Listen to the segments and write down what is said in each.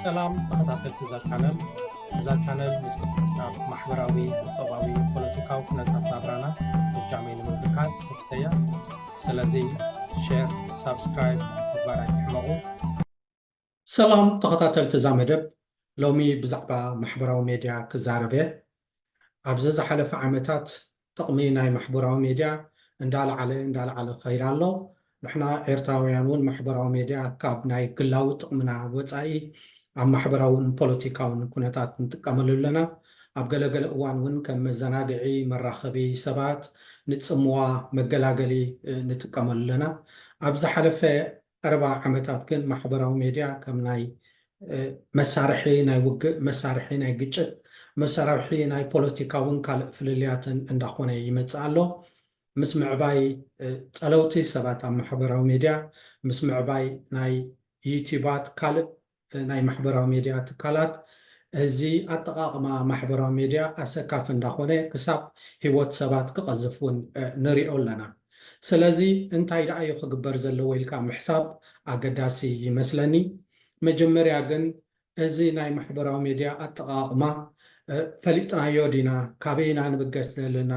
ሰላም ተኸታተልቲ እዛ ቻነል እዛ ቻነል ምስናብ ማሕበራዊ ቁጠባዊ ፖለቲካዊ ኩነታት ናብራና ብጃመይ ንምብካት ክፍተያ ስለዚ ሸር ሳብስክራይብ ምግባር ኣይትሕመቑ ሰላም ተኸታተልቲ እዛ መደብ ሎሚ ብዛዕባ ማሕበራዊ ሜድያ ክዛረብ እየ ኣብዚ ዝሓለፈ ዓመታት ጥቕሚ ናይ ማሕበራዊ ሜድያ እንዳልዓለ እንዳልዓለ ክኸይድ ኣሎ። ንሕና ኤርትራውያን ውን ማሕበራዊ ሜድያ ካብ ናይ ግላዊ ጥቕምና ወጻኢ ኣብ ማሕበራውን ፖለቲካውን ኩነታት ንጥቀመሉ ኣለና። ኣብ ገለ ገለ እዋን ውን ከም መዘናግዒ መራኸቢ ሰባት፣ ንጽምዋ፣ መገላገሊ ንጥቀመሉ ኣለና። ኣብ ዝሓለፈ ቀረባ ዓመታት ግን ማሕበራዊ ሜድያ ከም ናይ መሳርሒ ናይ ውግእ፣ መሳርሒ ናይ ግጭት፣ መሳርሒ ናይ ፖለቲካውን ካልእ ፍልልያትን እንዳኾነ ይመጽእ ኣሎ። ምስ ምዕባይ ጸለውቲ ሰባት ኣብ ማሕበራዊ ሜድያ፣ ምስ ምዕባይ ናይ ዩትዩባት ካልእ ናይ ማሕበራዊ ሜድያ ትካላት እዚ ኣጠቓቕማ ማሕበራዊ ሜድያ ኣሰካፊ እንዳኾነ ክሳብ ህይወት ሰባት ክቐዝፍ እውን ንሪኦ ኣለና። ስለዚ እንታይ ደኣ እዩ ክግበር ዘለዎ ኢልካ ምሕሳብ ኣገዳሲ ይመስለኒ። መጀመርያ ግን እዚ ናይ ማሕበራዊ ሜድያ ኣጠቓቕማ ፈሊጥናዮ ዲና? ካበይ ኢና ንብገስ ዘለና?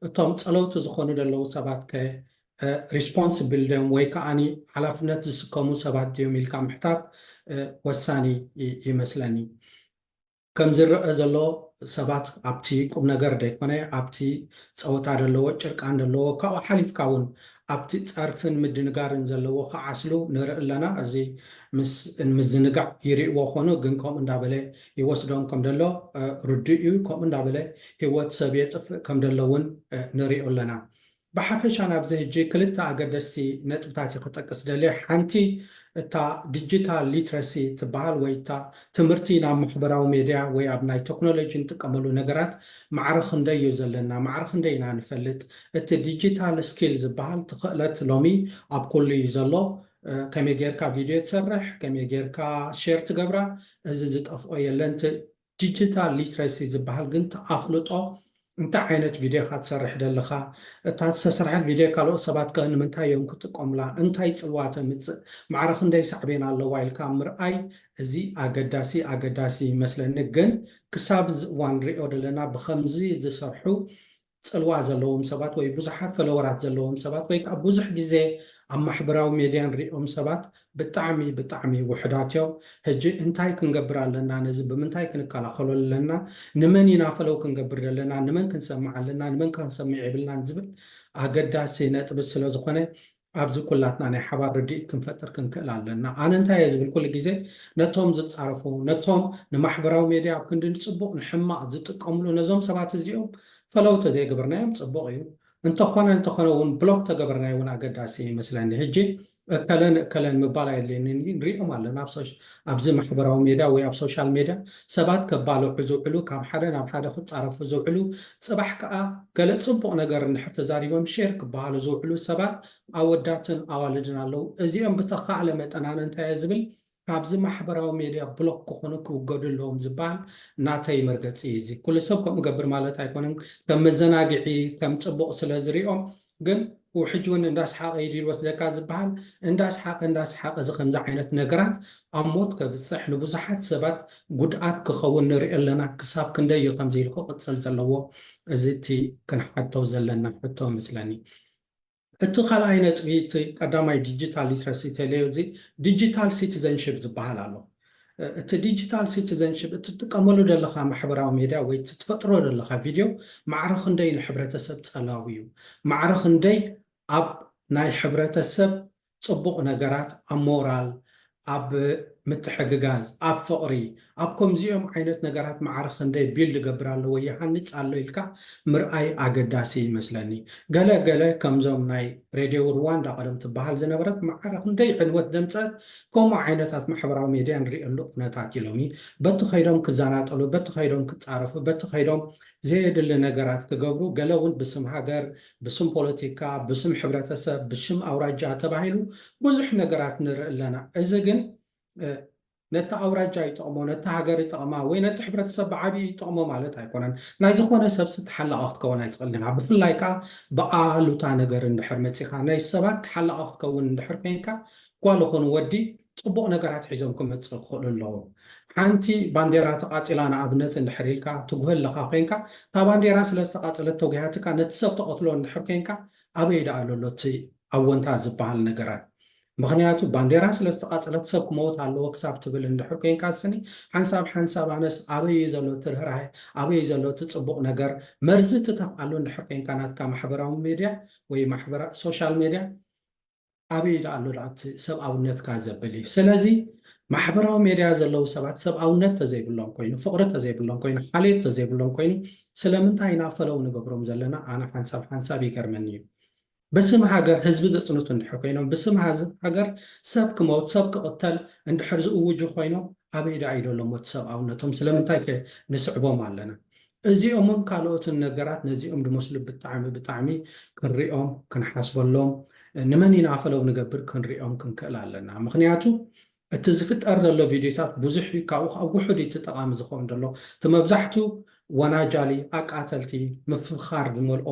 እቶም ጸለውቲ ዝኾኑ ዘለዉ ሰባት ከ ሪስፖንስብል ድዮም ወይ ከኣ ሓላፍነት ዝስከሙ ሰባት ድዮም ኢልካ ምሕታት ወሳኒ ይመስለኒ። ከም ዝረኣ ዘሎ ሰባት ኣብቲ ቁምነገር ዘይኮነ ኣብቲ ጸወታ ዘለዎ ጭርቃን ዘለዎ ካብኡ ሓሊፍካ ውን ኣብቲ ጸርፍን ምድንጋርን ዘለዎ ክዓስሉ ንርኢ ኣለና። እዚ ምስ ምዝንጋዕ ይርእዎ ኮኑ ግን ከምኡ እንዳበለ ይወስዶም ከም ደሎ ርዱእ እዩ። ከምኡ እንዳበለ ሂወት ሰብ የጥፍእ ከም ደሎ ውን ንሪኦ ኣለና። ብሓፈሻ ናብዚ ሕጂ ክልተ ኣገደስቲ ነጥብታት እየ ክጠቅስ ደልየ፣ ሓንቲ እታ ዲጂታል ሊትረሲ ትበሃል ወይ እታ ትምህርቲ ናብ ማሕበራዊ ሜድያ ወይ ኣብ ናይ ተክኖሎጂ ንጥቀመሉ ነገራት ማዕረ ክንደይ እዩ ዘለና፣ ማዕረ ክንደይ ኢና ንፈልጥ፣ እቲ ዲጂታል ስኪል ዝበሃል እቲ ክእለት ሎሚ ኣብ ኩሉ እዩ ዘሎ፣ ከመይ ጌርካ ቪድዮ ትሰርሕ፣ ከመይ ጌርካ ሼር ትገብራ፣ እዚ ዝጠፍኦ የለን፣ ዲጂታል ሊትረሲ ዝብሃል ግን ትኣፍልጦ እንታይ ዓይነት ቪድዮ ኢኻ ትሰርሕ ደለኻ እታ ዝተሰርሐት ቪድዮ ካልኦት ሰባት ከ ንምንታይ እዮም ክጥቀሙላ እንታይ ጽልዋ ተምጽእ ማዕረ ክንደይ ሳዕቤን ኣለዋ ኢልካ ምርኣይ እዚ ኣገዳሲ ኣገዳሲ ይመስለኒ ግን ክሳብ እዚ እዋን ንሪኦ ደለና ብኸምዚ ዝሰርሑ ጽልዋ ዘለዎም ሰባት ወይ ብዙሓት ፈለወራት ዘለዎም ሰባት ወይ ከኣ ብዙሕ ግዜ ኣብ ማሕበራዊ ሜድያ ንሪኦም ሰባት ብጣዕሚ ብጣዕሚ ውሑዳት እዮም። ሕጂ እንታይ ክንገብር ኣለና? ነዚ ብምንታይ ክንከላኸሎ ኣለና? ንመን ኢና ፈለው ክንገብር ዘለና? ንመን ክንሰምዕ ኣለና? ንመንከ ክንሰምዕ የብልናን? ዝብል ኣገዳሲ ነጥቢ ስለ ዝኾነ ኣብዚ ኩላትና ናይ ሓባር ርድኢት ክንፈጥር ክንክእል ኣለና። ኣነ እንታይ እየ ዝብል ኩሉ ግዜ ነቶም ዝጻረፉ ነቶም ንማሕበራዊ ሜድያ ኣብ ክንዲ ንጽቡቕ ንሕማቕ ዝጥቀምሉ ነዞም ሰባት እዚኦም ፈለው ተዘይገበርናዮም ጽቡቕ እዩ። እንተኾነ እንተኾነ ውን ብሎክ ተገበርናዮ ውን ኣገዳሲ ይመስለኒ። ህጂ እከለ ንእከለ ምባል ኣየድልየንን እዩ ንሪኦም ኣለና ኣብዚ ማሕበራዊ ሜድያ ወይ ኣብ ሶሻል ሜድያ ሰባት ከባልዑ ዝውዕሉ፣ ካብ ሓደ ናብ ሓደ ክጻረፉ ዝውዕሉ፣ ጽባሕ ከኣ ገለ ጽቡቕ ነገር እንድሕር ተዛሪቦም ሼር ክበሃሉ ዝውዕሉ ሰባት ኣወዳትን ኣዋልድን ኣለዉ። እዚኦም ብተኻእለ መጠን ኣነ እንታይ እየ ዝብል ካብዚ ማሕበራዊ ሜድያ ብሎክ ክኾኑ ክውገዱ ኣለዎም ዝበሃል ናተይ መርገጺ እዩ። እዚ ኩሉ ሰብ ከምኡ ይገብር ማለት ኣይኮነን ከም መዘናግዒ ከም ጽቡቕ ስለ ዝሪኦ ግን ኡው ሕጂ ውን እንዳ ኣስሓቀ ኢዱ ይወስደካ ዝብሃል እንዳ ኣስሓቀ እንዳ ኣስሓቀ እዚ ከምዚ ዓይነት ነገራት ኣብ ሞት ከብጽሕ ንብዙሓት ሰባት ጉድኣት ክኸውን ንርኢ ኣለና ክሳብ ክንደይ እዩ ከምዚ ኢሉ ክቅጽል ዘለዎ እዚ እቲ ክንሓቶ ዘለና ሕቶ እመስለኒ እቲ ካልኣይ ነጥቢ እቲ ቀዳማይ ዲጂታል ሊትረሲ ቴሌዮ እዚ ዲጂታል ሲቲዘንሽፕ ዝብሃል ኣሎ እቲ ዲጂታል ሲቲዘንሺፕ እትጥቀመሉ ዘለኻ ማሕበራዊ ሜድያ ወይ እቲ ትፈጥሮ ዘለኻ ቪድዮ ማዕረ ክንደይ ንሕብረተሰብ ጸላዊ እዩ? ማዕረ ክንደይ ኣብ ናይ ሕብረተሰብ ጽቡቕ ነገራት፣ ኣብ ሞራል፣ ኣብ ምትሕግጋዝ፣ ኣብ ፍቕሪ፣ ኣብ ከምዚኦም ዓይነት ነገራት ማዕረ ክንደይ ቢልድ ይገብር ኣሎ ወይ ይሃንጽ ኣሎ ኢልካ ምርኣይ ኣገዳሲ ይመስለኒ። ገለ ገለ ከምዞም ናይ ሬድዮ ርዋንዳ ቀደም ትበሃል ዝነበረት ማዕረ ክንደይ ዕንወት ዘምጸት ከምኡ ዓይነታት ማሕበራዊ ሜድያ ንሪኤሉ ኩነታት እዩ ሎሚ። በቲ ከይዶም ክዘናጠሉ፣ በቲ ከይዶም ክጻረፉ፣ በቲ ከይዶም ዘየድሊ ነገራት ክገብሩ፣ ገለ እውን ብስም ሃገር፣ ብስም ፖለቲካ፣ ብስም ሕብረተሰብ፣ ብሽም ኣውራጃ ተባሂሉ ብዙሕ ነገራት ንርኢ ኣለና። እዚ ግን ነቲ ኣውራጃ ይጠቕሞ፣ ነቲ ሃገር ይጠቕማ ወይ ነቲ ሕብረተሰብ ብዓብዩ ይጠቕሞ ማለት ኣይኮነን። ናይ ዝኾነ ሰብሲ ተሓላቒ ክትከውን ኣይትኽእልን ኢኻ። ብፍላይ ከኣ ብኣሉታ ነገር እንድሕር መጺኻ ናይ ሰባት ተሓላቒ ክትከውን እንድሕር ኮይንካ ጓል ኹን ወዲ ጽቡቕ ነገራት ሒዞም ክመጽእ ክኽእሉ ኣለዎም። ሓንቲ ባንዴራ ተቓጺላ ንኣብነት እንድሕር ኢልካ ትጉህ ኣለኻ ኮይንካ እታ ባንዴራ ስለ ዝተቓጸለት ተጉሂሃትካ ነቲ ሰብ ተቐትሎ እንድሕር ኮይንካ ኣበይ ደኣ ኣሎ ኣሎ እቲ ኣወንታ ዝበሃል ነገራት ምኽንያቱ ባንዴራ ስለ ዝተቓጸለት ሰብ ክመውት ኣለዎ ክሳብ ትብል እንድሕር ኮይንካ ስኒ ሓንሳብ ሓንሳብ ኣነስ ኣበይ እዩ ዘሎ እቲ ርህራሄ ኣበይ እዩ ዘሎ እቲ ጽቡቕ ነገር መርዚ ትተፍኣሉ እንድሕር ኮይንካ ናትካ ማሕበራዊ ሜድያ ወይ ማሕበራ ሶሻል ሜድያ ኣበይ ደኣ ኣሎ ደኣ እቲ ሰብኣውነትካ ዘብል እዩ። ስለዚ ማሕበራዊ ሜድያ ዘለዉ ሰባት ሰብኣውነት ተዘይብሎም ኮይኑ፣ ፍቕሪ ተዘይብሎም ኮይኑ፣ ሓልዮት ተዘይብሎም ኮይኑ ስለምንታይ ኢና ፈለው ንገብሮም ዘለና ኣነ ሓንሳብ ሓንሳብ ይገርመኒ እዩ። ብስም ሃገር ህዝቢ ዘጽንቱ እንድሕር ኮይኖም፣ ብስም ሃገር ሰብ ክመውት ሰብ ክቕተል እንድሕር ዝእውጁ ኮይኖም ኣበይ ደኣ እዩ ደሎ እሞ እቲ ሰብኣውነቶም? ስለምንታይከ ንስዕቦም ኣለና? እዚኦምን ካልኦትን ነገራት ነዚኦም ድመስሉ ብጣዕሚ ብጣዕሚ ክንሪኦም ክንሓስበሎም ንመን ኢና ፈለው ንገብር ክንሪኦም ክንክእል ኣለና ምክንያቱ እቲ ዝፍጠር ዘሎ ቪድዮታት ብዙሕ እዩ ካብኡ ከዓ ውሑድ እዩ እቲ ጠቃሚ ዝኸውን ዘሎ እቲ መብዛሕቱ ወናጃሊ ኣቃተልቲ ምፍኻር ዝመልኦ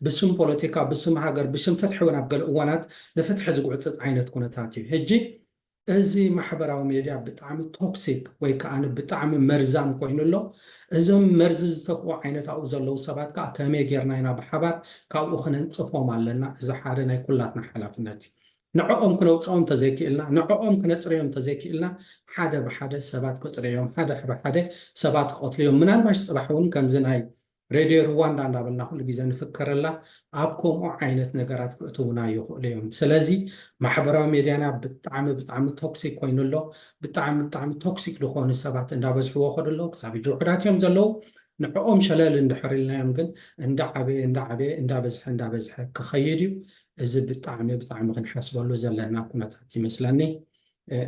ብስም ፖለቲካ ብስም ሃገር ብስም ፍትሒ እውን ኣብ ገለ እዋናት ንፍትሒ ዝጉዕፅፅ ዓይነት ኩነታት እዩ ሕጂ እዚ ማሕበራዊ ሜድያ ብጣዕሚ ቶክሲክ ወይ ከኣ ብጣዕሚ መርዛም ኮይኑ ኣሎ። እዞም መርዚ ዝተፍኡ ዓይነት ኣብኡ ዘለዉ ሰባት ከኣ ከመይ ጌርና ኢና ብሓባር ካብኡ ክነንጽፎም ኣለና። እዚ ሓደ ናይ ኩላትና ሓላፍነት እዩ። ንዕኦም ክነውጽኦም እንተዘይክኢልና፣ ንዕኦም ክነጽርዮም እንተዘይክኢልና ሓደ ብሓደ ሰባት ክጥርዮም፣ ሓደ ብሓደ ሰባት ክቐትልዮም ምናልባሽ ጽባሕ እውን ከምዚ ናይ ሬድዮ ርዋንዳ እንዳበልና ኩሉ ግዜ ንፍከረላ ኣብ ከምኡ ዓይነት ነገራት ክእትውና ይኽእሉ እዮም ስለዚ ማሕበራዊ ሜድያና ብጣዕሚ ብጣዕሚ ቶክሲክ ኮይኑ ኣሎ ብጣዕሚ ብጣዕሚ ቶክሲክ ዝኾኑ ሰባት እንዳበዝሕዎ ከዱ ኣለዉ ክሳብ ሕጂ ውሑዳት እዮም ዘለዉ ንዕኦም ሸለል እንድሕር ኢልናዮም ግን እንዳዓበየ እንዳዓበየ እንዳበዝሐ እንዳበዝሐ ክኸይድ እዩ እዚ ብጣዕሚ ብጣዕሚ ክንሓስበሉ ዘለና ኩነታት ይመስለኒ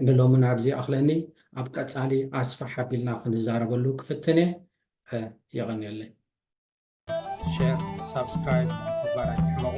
ንሎሚ ናብዚ ኣኽለኒ ኣብ ቀፃሊ ኣስፋሕ ኣቢልና ክንዛረበሉ ክፍትን እየ የቐንየለይ። ሸር ሳብስክራይብ ተግባር ኣይትሕመቑ።